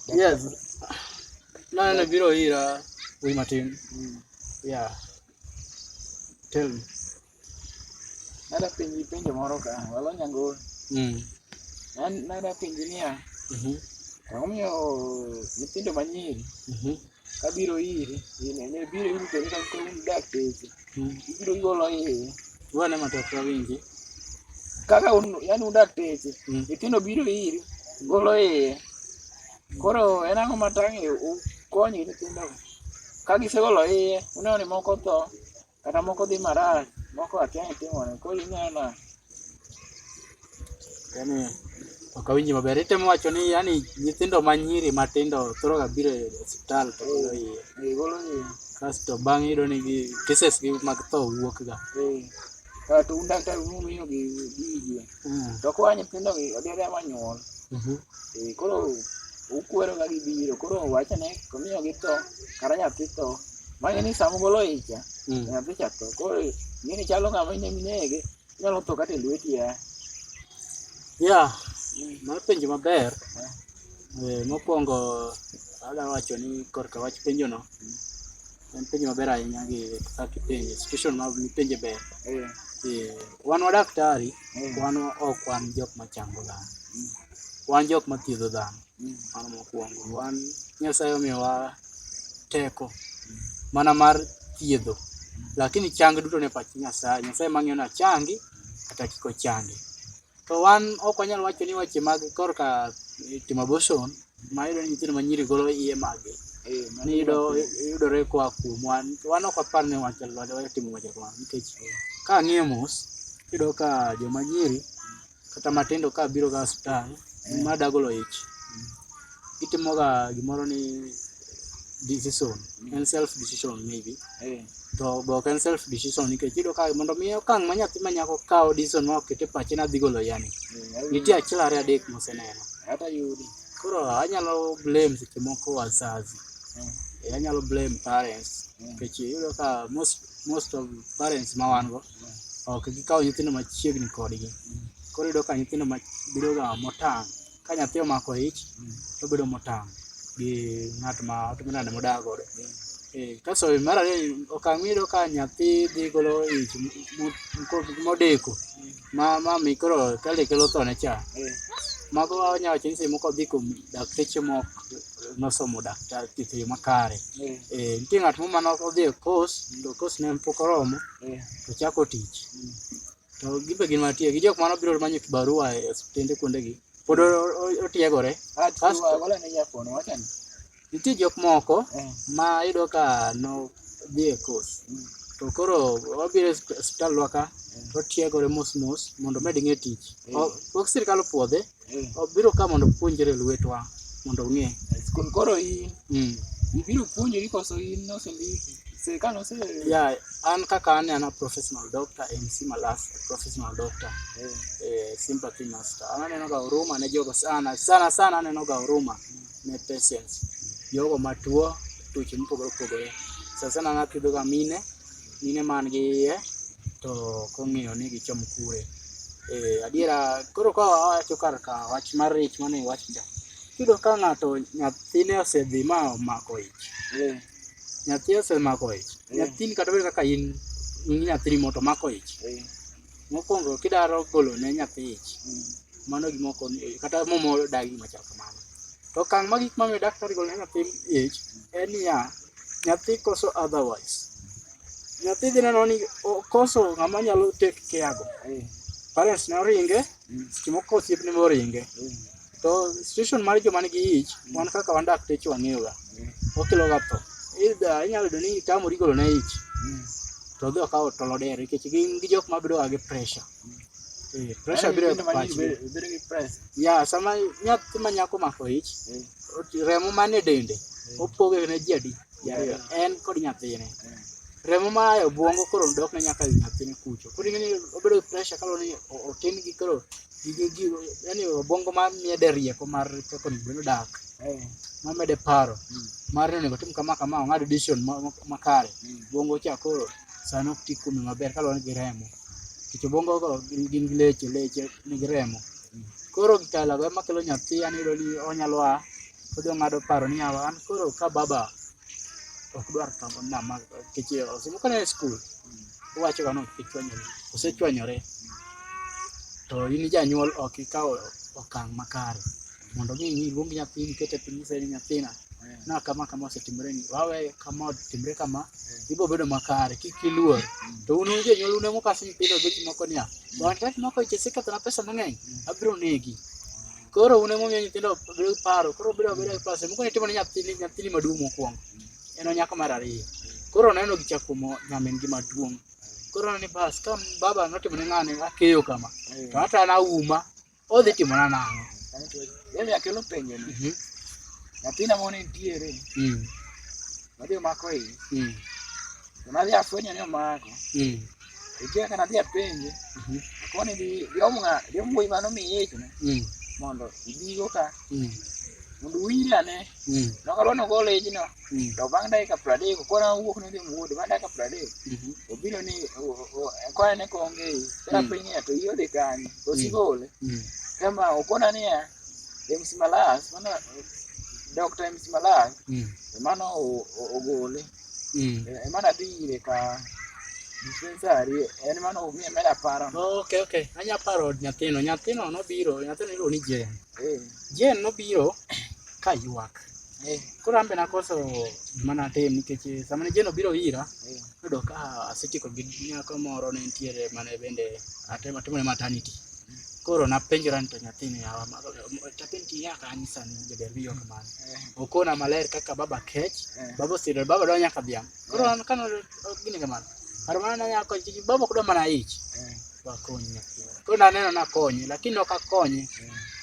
Yes. No, no, no, biro ira wi matin. Mm. Yeah. Tell me. Nada penji penjo moro ka, walo nyango. Mm. Nada penji niya. Mhm. Mm Omiyo nyithindo manyiri. Mhm. Mm Kabiro iri, ine, ne biro iri to nika kuom dakteche. Ibiro golo iye. Wane matatu awinji. Kaka un, yani un dakteche, Mm. nyithindo biro iri, golo iye. Koro en ang'o matang' e u konyi nyithindo? Ka gisegolo iye, uneno ni moko tho, Kata moko dhi marach, moko akia ni timore. Koro inena. Yaani ok awinji maber. Itemo wacho ni yani nyithindo ma nyiri matindo thoro ga biro e osiptal to golo iye. Eh, golo iye. Kasto bang' yudo ni gi cases gi mag tho wuok ga. Eh. Kato un daktar umiyo gi gi iye. Mm. To kwa nyithindo gi odere ma nyuol. Mhm. Eh, koro ukwero ga gibiro koro wachane komiyo githo kata nyathi tho mang'e ni sama ugolo icha Mm. nyathi cha tho koro ing'e ni chalo ng'ama ine minege inyalo tho kata e lweti ya ya mar penjo maber Eh, mokwongo adwa wacho ni korka wach penjono En penjo maber ahinya gi kaka ipenje, institution ma ipenje ber. Eh. Eh, wan wadaktari, mm. wan ok wan jok machango dhano. Mm. Wan jok mathiedho dhano. Mm. Mano mokwongo. Wan Nyasaye omiyowa teko mm. mana mar thiedho. Mm. Lakini chang duto ne pach Nyasaye. Nyasaye mang'iyo na changi kata kiko changi. To wan ok wanyal wacho ni weche mag korka timo abortion ma iyudo ni nyithindo ma nyiri golo iye maggi eh, mani iyudo yudore koa kuom wan wan ok wapar ni wachal watimo weche kamano nikech ka ang'iyo mos iyudo ka joma nyiri kata matindo ka biro ga hospital ma dagolo ich itimoga gimoro ni decision en self decision maybe eh. to be ok en self decision nikech iyudo ka mondo mi okang' ma nyathi ma nyako kawo decision ma oket e pache nadhi golo yani eh, nitie achiel ariyo adek moseneno koro anyalo blame seche moko wazazi eh. anyalo blame parents nikech iyudo ka most most of parents ma wan go ok gikawo nyithindo machiegni kodgi mm. koro iyudo ka nyithindo bedoga motang' ka nyathi omako ich to obedo motang' gi ng'at ma otimo nade modak godo. Eh, Kaso mar ariyo okang' miyudo ka nyathi dhi golo ich m- m- ko- modeko ma ma mi koro kale kelo thone cha. Mago wanya wacho ni seche moko dhi kuom dakteche mok nosomo daktar thieth e yo makare. Eh, nitie ng'at moro mane odhi e course to course ne pok oromo to ochako tich. To gibe gin mantie gi jok mano biro manyo kibarua e osiptende kuondegi pod o- o- otiegore. Kasto- Nitie jok moko ma iyudo ka no dhi e course to koro obiro e osip- osiptandwa ka to otiegore mos mos mondo omed ng'e tich. O- Pok sirkal opuodhe mm. obiro ka mondo puonjre lwetwa mondo ong'e koro in mm. ibiro puonjori koso in nosendiki sirikal ose ya an kaka an ana professional doctor MC Malas professional doctor mm. eh, sympathy master an aneno ga huruma ne jogo sana sana sana aneno ga huruma mm. ne patients jogo matuo tuoche mopogore opogore sasa sana anathiedhoga mine mine man gi iye to kong'eyo ni gichom kure. Eh, adiera koro ka wawacho kar ka wach mar ich mane iwacho cha, iyudo ka ng'ato nyathine osedhi ma omako ich. Eh, nyathi osemako ich. Eh. Nyathini kata bed kaka in in nyathini moto omako ich. Eh. Mokuongo kidwaro golo ne nyathi ich, mano gima ok onego kata muma odagi gima chal kamano. To okang' mogik momiyo daktari ogolo ne nyathi ich en niya, nyathi koso otherwise. Nyathi idhi neno ni okoso ng'ama nyalo take care go. Parents ne oringe, seche moko osiepne be oringe. To situation mar joma nigi ich, wan kaka wan dakteche wang'eyoga, okeloga tho. Either inyalo yudo ni itamori golo ne ich, to odhi okawo tol odere nikech gin gi jok mabedoga gi pressure. Eh, pressure biro e pach be. Bedo gi press. Ya, sama nyathi ma nyako omako ich, remo manie dende opoge ne ji adi? Jariyo, en kod nyathine. Remo ma e obwongo koro dok ne nyaka ir nyathine kucho. Koro ing'e ni obedo gi pressure kaluwore ni o- otin gi koro gige gi yani obwongo ma mede rieko mar kaka onego bed ni odak. Ma mede paro mar ni onego otim kama kama ong'ad decision ma- ma- makare. Obwongo cha koro sani ok ti kuome maber kaluwore gi remo. Nikech obwongo go gin gin gi leche leche nigi remo. Koro gikalago ema kelo nyathi yani iyudo ni onyalo a Kodhi ong'ado paro ni yawa an koro ka baba ok dwar kama na ma kech osimo kana e skul. Owacho ga no kichwanyore. Osechwanyore. To in janyuol ok ikawo okang' makare. Mondo mi iluong nyathini ikete piny inyise ni nyathina na kama kama osetimore ni wawe kama otimre kama ibiro bedo makare kik iluor. To un jonyuol un ema ukaso nyithindo gi gik moko niya, wan tek moko ich isekethona pesa mang'eny abiro negi. Koro un emomiyo nyithindo bedo gi paro, koro bedo abeda gi paro. Samoro itimo ne nyathini, nyathini maduong' mokwongo, en onyako mar ariyo. Koro oneno gicha kuom nyamin gi maduong'. Koro oneno ni bas, ka baba notimo ne ng'ani akeyo kama, to ata an auma, odhi timona nang'o? Yaani akelo penjo ni, Mhm. nyathina moni nitiere, Mm, madhi omako iyi, mm, to nadhi afwenyo ni omako, mm, Ijia kana dia penje. Mhm. Koni di diomga diomgo imano mi yecho ne. Mm. Mondo ibigo ka. Mm. Mondo wira ne. Mm. Noka rono gole jino. Mm. To bang dai ka prade ko kona wuok ne dem wuod bang dai ka prade. Mhm. Obino ni ko ene ko ngi. Kara mm. penye to iyo de kan. To mm. sigole. Mm. Kama okona ni ya. Dem simalas mana Dr. Msimalai mm. mano ogole Mm. Eh, Ema nadhi ire ka dispensary en mano omi ema aparo. Ok, ok. Anya paro od nyathino. Nyathino nobiro, nyathino iluongo ni Jen. Eh, Jen nobiro ka ywak. eh, Koro an be nakoso gima natim nikech sama ne Jen obiro ira, eh, noyudo ka asetieko gi nyako moro ne nitiere mane bende atemo atimone maternity. Koro napenjora ni to nyathini yawa nyathini kiya kanisa ni jaber wiyo kamano. Eh. Okona maler kaka baba kech, eh. baba osiro, baba dwa nyaka dhiang'. Koro eh. an kano gini kamano. Kar mano nyako chichi baba kudo mana ich. Wakonyi nyathi. Koro naneno nakonye lakini ok akonye.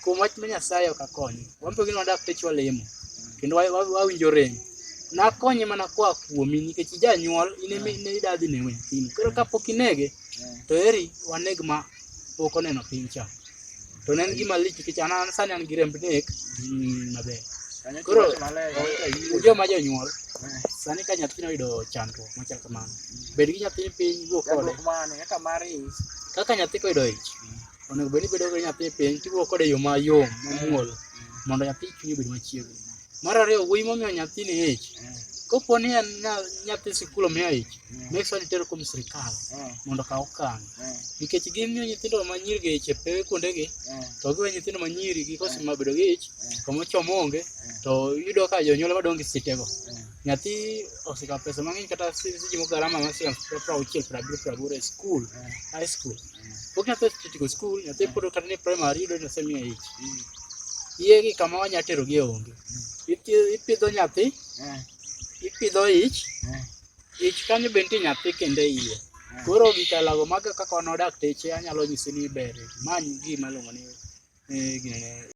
Kuom wach ma Nyasaye ok akonye. Wambe gini wadak pech walemo. Kendo wawinjo rem. Nakonye mana kwa kuomi nikech ijanyuol in ema idadhi ne nyathini. Koro kapok inege to eri waneg ma pok oneno piny cha to ne en gima lich nikech an sani an gi remb nek mm, maber koro joma jonyuol sani ka nyathino oyudo chandruok machal kamano bed gi nyathi piny wuo kode kaka nyathi koyudo ich onego bed ni bedo gi nyathi piny tiwuo kode e yo mayom mamuol mondo nyathi chunye obed machiegni Mar ariyo, wuoyi momiyo nyathini ich, kopo ni en nyathi sikul omiyo ich, make sure ni itero kuom sirkal mondo okaw okang'. Nikech gimiyo nyithindo ma nyiri gi ich e pewe kuondegi, to giwe nyithindo ma nyiri gi kose ma bedo gi ich, kama ochom onge, to iyudo ka jonyuol ema dong' gi sitego. Nyathi osekawo pesa mang'eny kata sijimo garama ma siling' prauchiel, prabiriyo, praboro e skul, high school. Okina pes titiko skul, nyathi mm. pod kata ni primary yudo ni osemiyo ich. Mm. Iye gi kama wanya tero gi onge. Mm. Ipidho nyathi, eh. ipidho ich, eh. ich kanyo be nitie nyathi kende iye. Eh. Koro gik alago maga kaka wan wadak teche anyalo nyisi ni ber. Many gima luongo ni gine